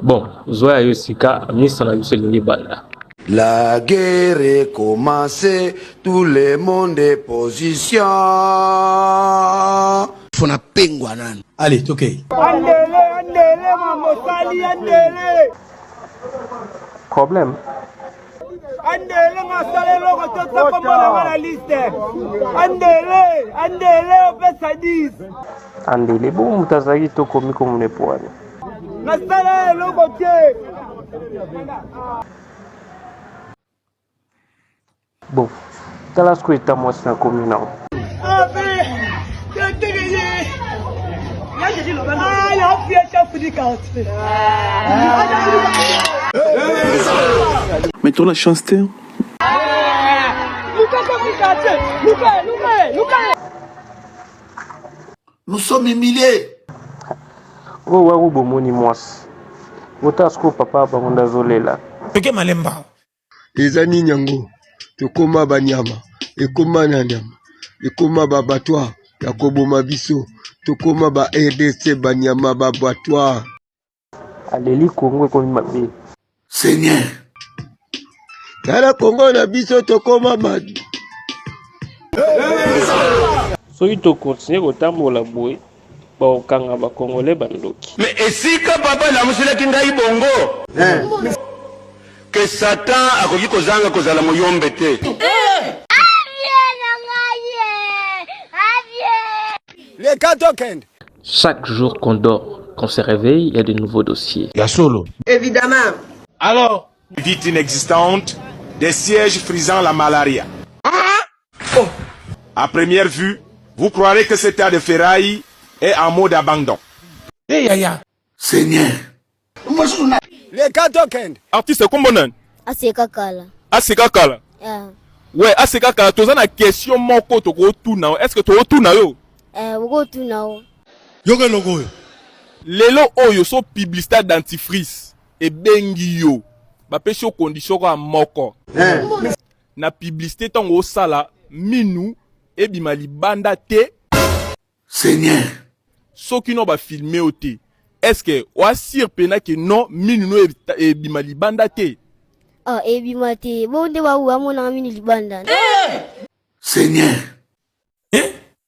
Bon, zwa ya yo sika, misa na biso elingi banda. La guerre commence, tout le monde est position. Fona pengwa nani? Allez, tokei. Andele, andele, mamosali, andele. Problème andele nasala eloko te tokomona nga na liste andele andele opesa 10 andele bo moto azalaki tokomi komona epoani nasala eloko te bon Tala sikoyo eta mwasi na komi nao. Mais tu as la chance, t'es. Nous sommes humiliés. Oh, waouh, bon, mon immense. Autant ce que papa, bah, on a zolé là. Toke malemba. eza nini yango tokoma banyama ekoma na nyama ekoma babatoire ya koboma biso tokoma ba rdc banyama babatoire aleli kongo ekomi mabe seigneur tala kongo na biso tokoma mabe soki tokontinue kotambola boye Bokanga ba congolais ba ndoki. Mais esika papa alamuselaki ngai bongo eh. Que Satan akoki kozanga kozala moyombe te eh. Les cas token. Chaque jour qu'on dort, qu'on se réveille, il y a de nouveaux dossiers. Ya solo. Évidemment. Alors, vite inexistante, des sièges frisant la malaria. Oh. A première vue, vous croirez que cet tas de ferraille est en mode abandon. Hey, eh, yaya. Seigneur. Les gars token. Artiste kombo nani? Aseka kala. Aseka kala. Yeah. Ouais, aseka kala toza na question moko toko tuna. Est-ce que toko tuna yo? Eh, oko tuna yo. Yoka loko oyo. Lelo oyo so publicité dentifrice ebengi yo. Bapesi yo condition kwa moko. Eh. na publicité tango osala minu ebima libanda te seigneur soki no ba filme yo te est ce que oasire pena ke non minu no ebima libanda te ah ebima te bo nde bawu bamonaka minu libanda seigneur eh?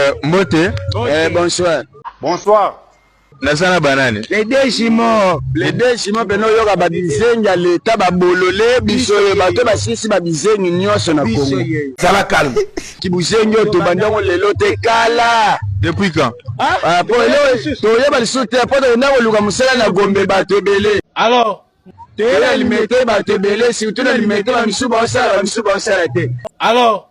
Euh, mbote. Eh, bonsoir. Bonsoir. naza na banani les deux jumeaux les deux jumeaux pene oyoka babizengi ya leta babolole biso ye bato basisi babizengi nyonso na kongo zala calme kibuzengi oyo tobandi yango lelo te kala depuis quand ah, ah, po lelo toyeba lisusu te po tokenda koluka mosala na gombe bato ebele alors toyela limete bato ebele surtout na limete bamisusu baosala bamisusu baosala te alors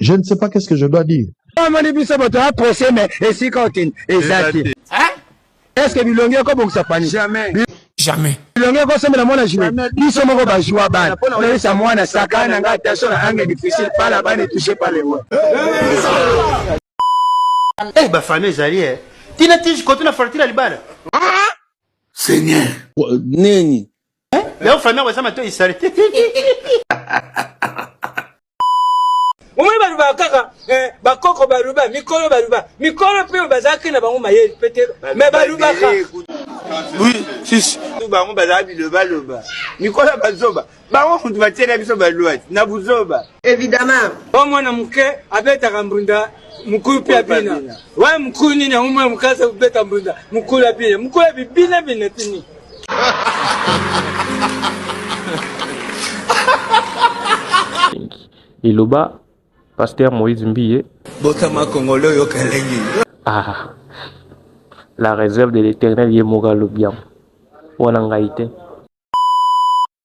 je ne sais pas qu'est-ce que je dois dire amoni biso bato ya procès mais esika okende eza te est ce que bilongi ekobongisa pani jamais jamais bilongi ekosombela mwana jue biso moko bajua bana oyebisa mwana saka na ngai attention na angle difficile pala bana etouche pa lewa eh bafamille ezali e tina tiji kote na fartila libala seigneur nini Leo famille yako eza matoi salite. omoni balobaka kaka eh, bakoko baluba mikolo baluba mikolo mpe bazalaki na bango mayeli mpe te me balubaka bango bazala bilobaloba mikolo ya bazoba bango kutu batiela biso balwati na buzoba evidemment o mwana moke abetaka mbunda mukulu mpe abina waye mukulu nini yango mwana moke aza kobeta mbunda mukulu abina mukulu abi bina bina tini Eloba Pasteur Moïse Mbiye. Botama Congolais oyo kalengi. Ah. La réserve de l'éternel ye moko alobi yango. Wana ngai te.